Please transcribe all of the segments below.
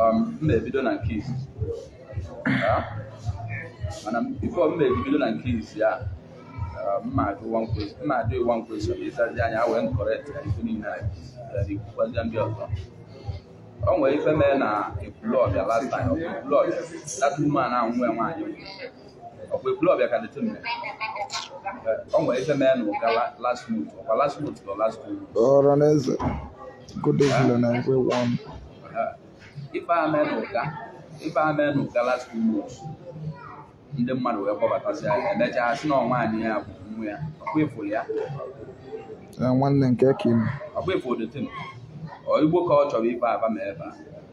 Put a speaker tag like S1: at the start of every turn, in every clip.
S1: um, m ebido na case and before m ebido na case a ah, m na-ajụ one question ị zazi anya wee correct ya ife niile a ikwukwazia ndị ọzọ o nwere ife mee na Ekwulọbịa last time ọ bụ Ekwulọbịa that woman ahụ nwee nwaanyị ọkwa Ekwulọbịa ka that time o nwere ife mee na Ụga last month ọkwa last month nọ last month ọra na eze
S2: good evening na ekwe wọn
S1: ife a mee na Ụga ife a mee na Ụga last month ndị mmadụ wee kpọbatazi ya emechaa sị na ọ nwaanyị ya bụ mmụ ya ọkwa efuru
S2: ya nwanne nke ka ime ọkwa efuru that
S1: time ọ igbo ka ọ chọrọ ife aba ma ebe a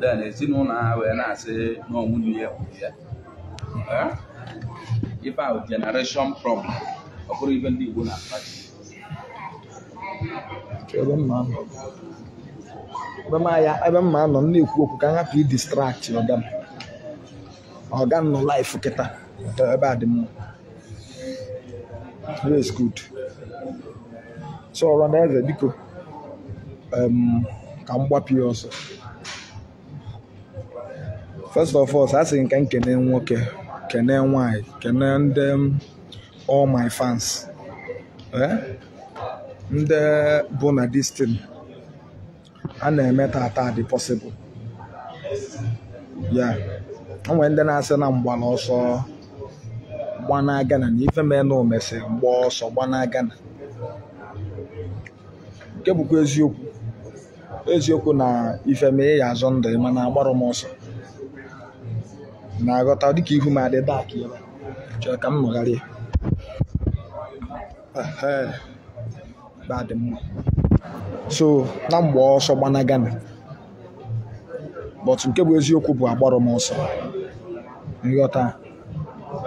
S1: then ezinụlọ ha wee na-asị na ọ nwunye ya gburu ya ife ahụ generation problem ọ bụrụ ibe ndị Igbo na-akpachi
S2: ebe m ma-anọ na-ekwu okwu ka m hapụ ịdistract ọga m ọga m nọ live kịta ebe a dị mma Yes, good. So ọra na eze biko em, ka m gbapụ ya ọsọ. First of all, asị m ka m kene nwoke, kene nwanyị, kene ndị m, all my fans. Eh? Ndị bụ na this thing a na-eme taata dị possible yeah o nwe ndị na-asị na m gbara ọsọ gbana Ghana na ife mee na o mesị m gbaa ọsọ gbana Ghana nke bụkwa eziokwu eziokwu na ife mee ị ya-azọ ndụ ị mana agbarọ m ọsọ ị na-aghọta dịka ihu m adị dark ebe a chere ka m nọgharịa Ehe. ebe a dị mma so na m gbaa ọsọ gbana Ghana but nke bụ eziokwu bụ agbarọ m ọsọ ị ghọta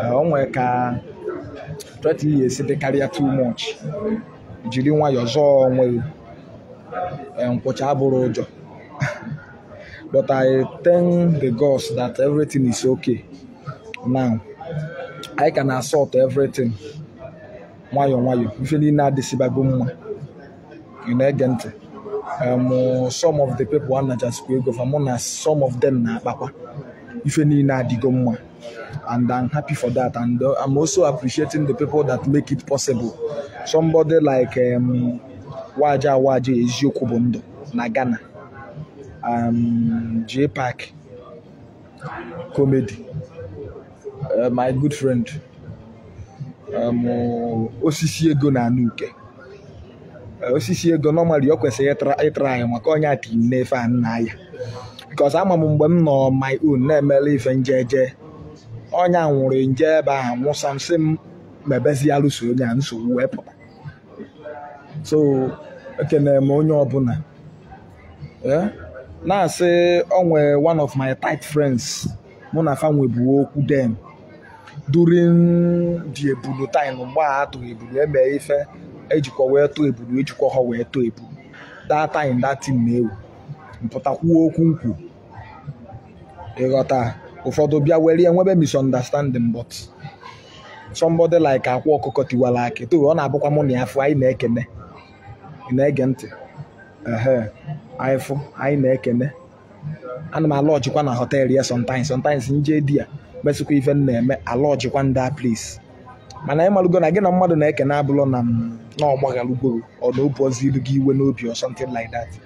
S2: eh, o nwere ka threat ya-esi dịkarịa too much jiri nwayọọ zọọ onwe gị eh, nkwụcha abụrọ ụjọ but i thank the gods that everything is okay now anyị ka na-asort everything nwayọọ nwayọọ ife niile adịsịbago mma ị na-ege ntị um, some of the people anachasịkwa ego fa mụ na some of them na-akpakwa ife niile adịgo mma and I'm happy for that and uh, I'm also appreciating the people that make it possible somebody like um, Waja Waja eziokwu bụ ndụ na Ghana um, J Park comedy uh, my good friend um, osisi ego na anụ uke uh, osisi ego normally ọ kwesịrị ịtara ya maka ọ nya ti m n'ife a nna ya because ama m mgbe m nọ my own na-emere ife m jeje onye nwụrụ m je ebe ahụ nwụsa m sị m mebezi alụsị ọ nya nsogbu wee pụta so ekene m onye ọbụla eh? na-asị ọ nwee one of my tight friends mụ na fa nwebu okwu then during the ebulu time mgbe a atụ ebulu eme ife ejikwa wee tụọ ebulu ejikwa ha wee tụọ ebulu that time that thing na-ewu m pụta kwuo okwu m kwu ịghọta ụfọdụ bịa were ya nwebe misunderstanding but somebody like akwa ọkụkọ tiwara akị to ọ na-abụkwa mụ na ya fụ anyị na-ekene ị na-ege ntị ehe anyị fụ anyị na-ekene ana m alọjikwa na họteelụ ya sometimes sometimes m je there mesịkwa ife m na-eme alọjikwa na their place mana ị malụgo na gị na mmadụ na-ekene abụlọ na ọ gbaghalugo or na o buozilu gị iwe n'obi or something like that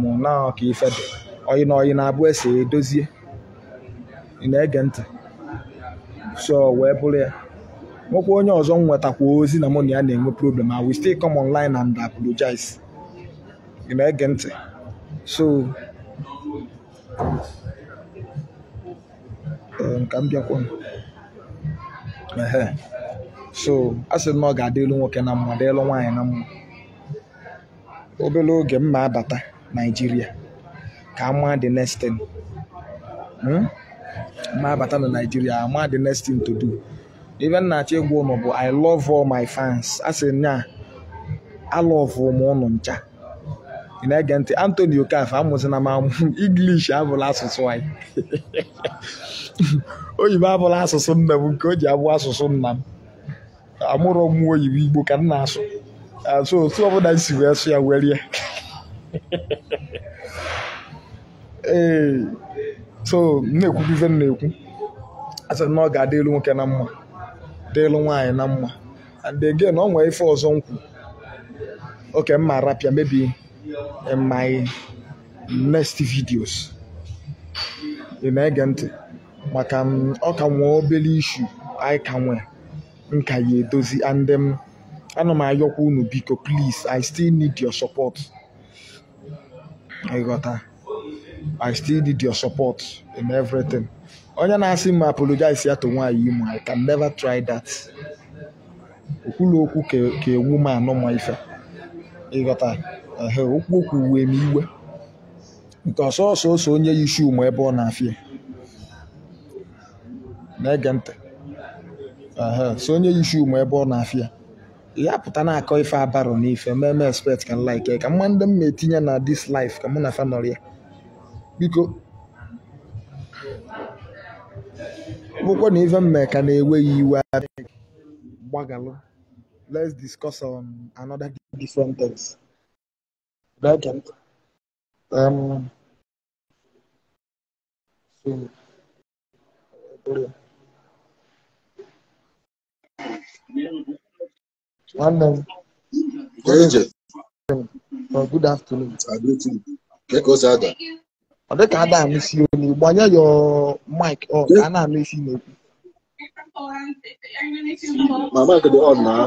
S2: mụ na ka ife dị ọyị na ọyị na-abụ ese edozie ị na-ege ntị so wee bụrụ ya nwekwa onye ọzọ m nwetakwa ozi na mụ na ya na-enwe problem I will still come online and apologize ị na-ege ntị so ee, nka m bịakwa ehe so a sị na ọ ga-adịlu nwoke na mma dịlụ nwaanyị na mma obere oge m ma abata naijiria ka a ma the next thing hmm? ma abata na naijiria ama the next thing to do ife m na-achọ ịgwa ụnụ bụ i love all my fans a sị nya alọvụ m ụnụ ncha ị na-ege ntị Anthony Okafor amụzina m amụ English abụlọ asụsụ anyị oyibo abụlọ asụsụ nne m nke o ji abụ asụsụ nna m amụrụ m oyibo igbo ka m na-asụ so otu ọbụla si wee sụ ya were ya ee so m na-ekwubu ife m na-ekwu asị na ọ ga-adịlu nwoke na mma dịlu nwaanyị na mma and again ọ nwee ife ọzọ m kwu okay m ma arapụ ya maybe in my next videos ị na-ege ntị maka m ọ ka nwee obere issue anyị ka nwee m ka ya edozi and um, ana m ayọkwa unu biko please i still need your support ịghọta i still need your support in everything onye na-asị m apologize ya to nwaanyị imo i can never try that o kwulu okwu ka ewu ma anụ ma ife ịghọta ehe o kwuo okwu wee m iwe nke ọ sọsọ onye yi shoe ma ebe ọ na-afịa na-ege ntị Ehe, so onye yi shoe ma ebe ọ na-afịa ya ha pụta na-akọ ife abarọ n'ife meme expect ka like ka mma ndị m na-etinye na this life ka mụ na fa nọrọ ya biko ọ bụkwa na ife m mee ka na-ewe gị iwe adịghị gbaghalụ let's discuss on another different things Like, um, Sí. Nwanne m. Good, oh, good afternoon. I do too. Get us out there. Ọ dịka ada anụsi onye gbanye your mic on ka a na-anụsi n'okwu.
S3: My mic dị on now.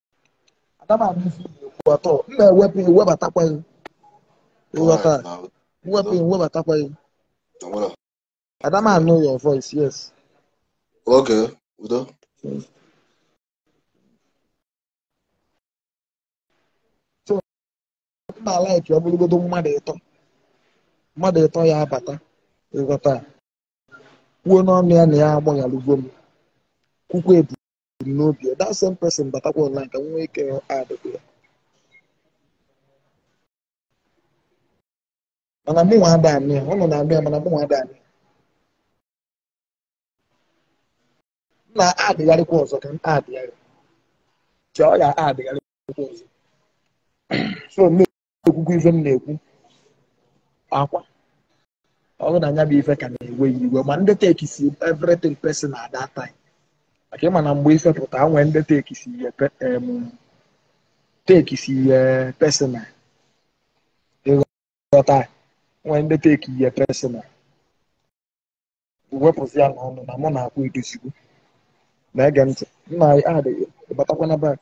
S2: ada m anụ ife ị na-ekwu at all m wepụ gị webatakwa gị ịghọta m wepụ gị webatakwa gị ada m anụ your voice yes okay
S3: udo
S2: yes. so m na-like ọ bụrụgodu mmadụ ịtọ mmadụ ịtọ ya bata ịghọta kwuo n'ọnụ ya na ya agbaghalụgo m kwukwa ebu kwuru n'obi ya that same person batakwa online ka m nwee ike addịkwa ya mana mụ nwa ada m anụ ya unu na-anụ ya mana mụ nwa ada m anụ ya m na-addịgharịkwa ọzọ ka m addịgharị chọọ ya addịgharịkwa ọzọ so ekwukwa ife m na-ekwu Akwa ọ bụrụ na ya bụ ife ka na-ewe gị iwe ma ndị take si everything personal at that time maka ị ma na mgbe ife pụta nwee ndị take si ihe pe- em, take si ihe personal ịghọta nwee ndị take ihe personal wepụzi ya n'ọnụ na mụ na Akwa edozigo na-ege ntị m na-add gị batakwa na back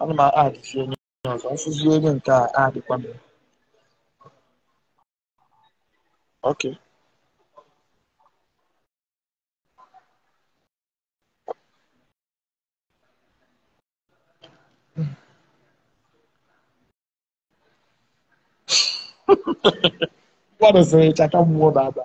S2: ana m addzi onye ọzọ mfụzi onye nke a adịkwa m ok mmadụ sịrị chaka mmụọ baba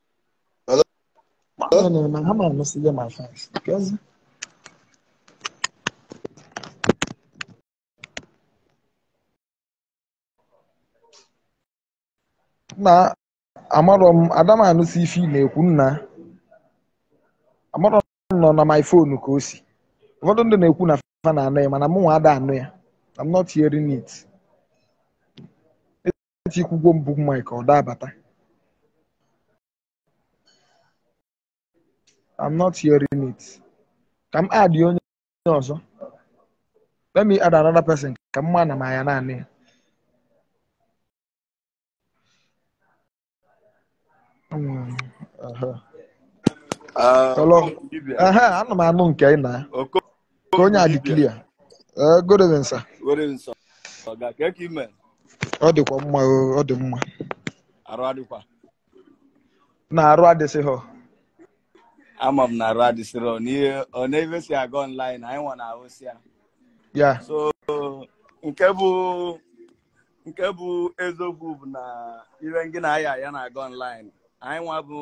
S2: nna amarọ m ada m anụsi ife ị na-ekwu nna amarọ m na ọ na my phone ka o si ụfọdụ ndị na-ekwu na fa na-anụ ya mana mụ nwa ada anụ ya I'm not hearing it etikwugwo m book mic ọ da abata I'm not hearing it ka m add onye ọzọ let me add another person ka m ma na m aya na-anụ ya Mm, aha. Ah, Hello. Okwu dibịa. Aha, ana m anụ nke ị na Oko- ka onye a dị dibịa. clear. Eh, good evening, sir. Good evening,
S4: sir. Ọga kee ka ị
S2: me. Ọ dịkwa mma o, ọ dị mma. Arụ adịkwa. Nna arụ adịsịrọ.
S4: Ama m na arụ adịsịrọ n'ihe ọ n'ebe si aga online anyị nwa na-ahụsị ya. Yeah. So nke bụ nke bụ eziokwu bụ na ihe ngị na aya ya na-aga online anyị nwa bụ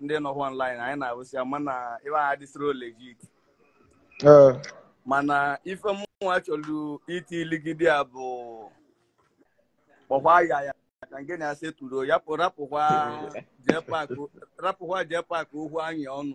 S4: ndị nọkwa online anyị na-ahụsị ya mana ihe a adịsịrọ legit Ee, mana ife mụnwa chọrọ iti iligide ya bụ kpọkwa aya ya ka ngị na ya settle ya pụ rapụkwa jee pak okwu anyị ọnụ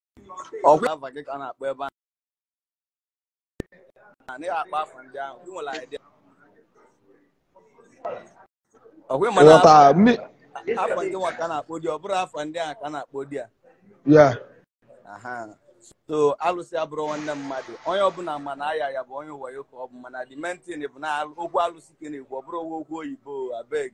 S2: ọkwa afa gị ka a na-akpọ ebe a na ị akpọ afa ndị ahụ ị nwere idea ọkwa ịma na ghọta afa mi afa ndị nwa ka a na-akpọ there ọ bụrọ afa ndị ahụ ka a na-akpọ there yeah
S4: aha so alụsị abụrọ nwanne mmadụ onye ọbụla ma na aya ya bụ onye wayo ka ọ bụ mana the main thing bụ na al- okwu alụsị ka ị na-ekwu ọ bụrọ okwu oyibo abeg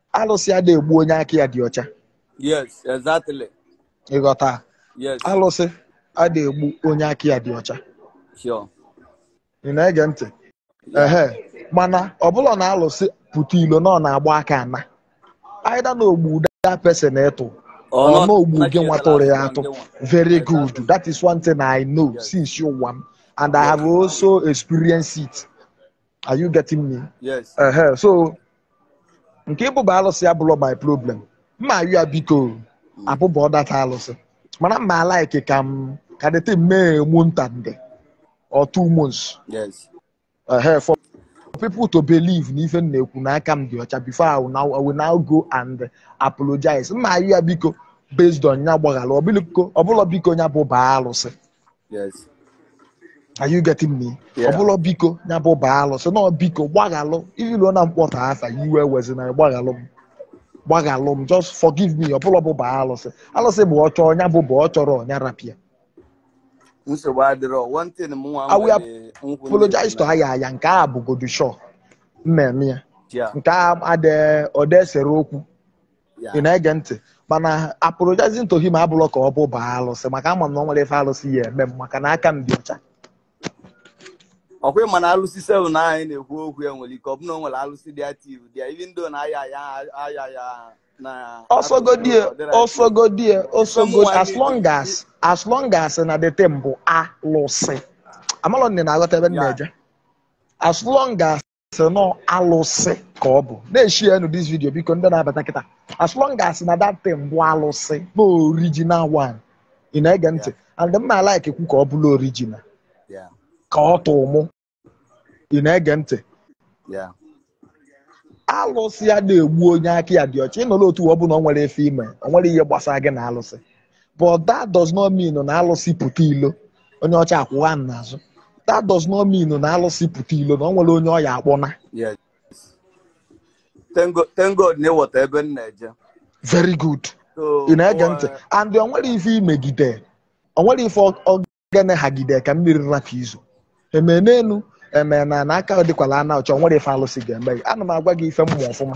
S2: alụsị ada egbu onye aka ya dị ọcha
S4: yes exactly ị
S2: ghọta yes
S4: alụsị
S2: ada egbu onye aka ya dị ọcha
S4: sure ị
S2: na-ege ntị ehe mana ọ bụlụ na alụsị pụta ilo na ọ na-agba aka ana either na o gbuo that person ị tụ or na o gbuo gị nwa tụrụ ya atụ very good that is one thing i know since ụwa m and i have also experienced it are you getting me yes ehe so nke ịbụba alụsị abụlọ my problem m ma-ayọ ya biko abụba that alụsị mana m ma-alike ka m ka the thing mee a month and or two months
S4: yes ehe
S2: for people to believe na ife m na-ekwu na aka m dị ọcha before I will now, I will now go and apologize m ma-ayọ ya biko based on ya gbaghara ọ bụlọ biko ọ bụlọ biko ya bụ baa alụsị Yes. Are you getting me? Yeah. Ọ bụlọ biko nya bụ baa alụsị na biko gbaghalụ ilu na m kpọta afa iwe ewezina gbaghalụ m gbaghalụ m just forgive me ọ bụlọ bụ baa alụsị alụsị bụ ọ chọọ ya bụ bụ ọ chọrọ nya rapụ
S4: ya nsogbu adịrọ one thing m nwa I will apologize
S2: to aya aya nke a bụgodu show mmemme ya nke a adịghị ọdesere okwu ị na-ege ntị mana apologizing to him abụlọ ka ọ bụ baa alụsị maka ama m na o nwerọ ife alụsị ya eme m maka na aka m dị ọcha ọ
S4: kwa ị ma na alụsị sef na anyị na-ekwu okwu ya nwere ike ọ bụ na o nwere alụsị dị active dị ya even though na aya ya aya ya na ọ
S2: sọgodi ya ọ sọgodi ya ọ sọgodi as long as as long as na the thing bụ alụsị amalọ m na ị na-aghọta ebe m na-eje as long as sị na ọ alụsị ka ọ bụ na-eshare nụ this video biko ndị na-abata kịta as long as na that thing bụ alụsị na original one ị na-ege ntị and m ma-alike ekwu ka ọ bụrụ original ka ọ tụ mụ ị na-ege ntị alụsị ada egbu onye aka ya dị ọcha ịnọrọ otu ọ bụ na o nwere ife i me o nwere ihe gbasara gị na alụsị but that does not mean na alụsị pụta ilo onye ọcha akwụwa m n'azụ that does not mean na alụsị pụta ilo na o nwerọ onye ọ ya-akpọna Yes.
S4: Thank God, thank God na ị ghọta ebe m na-eje. very
S2: good So, ị na-ege ntị ụwa- and o nwere ife i megide o nwere ife ọ- ọ gene hagide ka mmiri rapụ izo eme n'elu eme n'ana aka dịkwala ana ọcha o nwerọ ife alụsị ga-eme gị ana m agwa gị ife m ma ọfụma